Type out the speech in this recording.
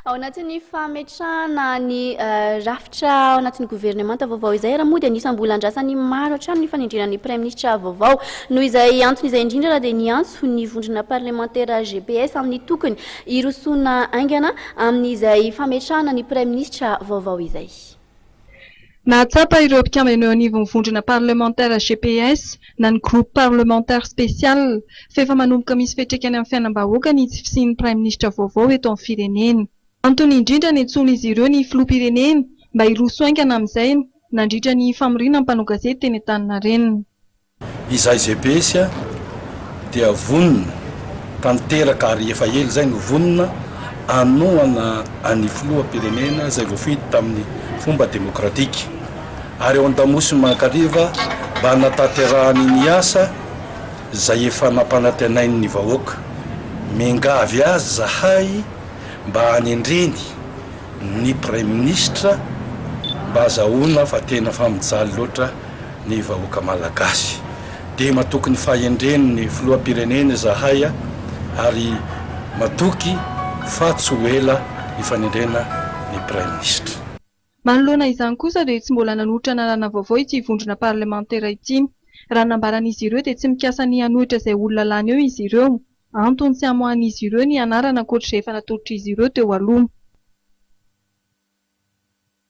Ao anatin'ny fametrahana ny rafitra ao anatin'ny governemanta vaovao izay raha moa dia anisan'ny mbola andrasan'ny maro hatrany ny fanendrena ny praiminisitra vaovao. Noho izay antony izay indrindra raha dia niantso ny vondrona parlemantera GPS amin'ny tokony hirosoana haingana amin'izay fametrahana ny praiminisitra vaovao izay. Nahatsapa ireo mpikambana eo anivon'ny vondrona parlemantera GPS na ny Groupe Parlementaire Spécial f'efa manomboka misy fetraikany amin'ny fiainam-bahoaka ny tsy fisian'ny praiminisitra vaovao eto amin'ny firenena. Antony indrindra niantsoan'izy ireo ny filoham-pirenena mba hiroso haingana amin'izay nandritra ny famoriana ny mpanao gazety teny Antaninarenina. Izay GPS dia vonona tanteraka ary efa ela izay no vonona hanohana an'ny filoham-pirenena izay voafidy tamin'ny fomba demokratika ary ao an-damosin'i Mankariva mba hanatanterahany ny asa izay efa nampanantenainy ny vahoaka. Miangavy azy izahay mba hanendreny ny Praiminisitra mba hazahoana fa tena fa mijaly loatra ny vahoaka Malagasy. Dia matoky ny fahendren' ny Filoham-pirenena izahay ary matoky fa tsy ho ela ny fanendrena ny Praiminisitra. Manoloana izany kosa dia tsy mbola nanolotra anarana vaovao ity vondrona parlemantera ity. Raha ny nambaran' izy ireo dia tsy mikasa ny hanohitra izay olona lany eo izy ireo. Antony tsy hamoahan' izy ireo ny anarana ankoatra izay efa natolotr'izy ireo teo aloha.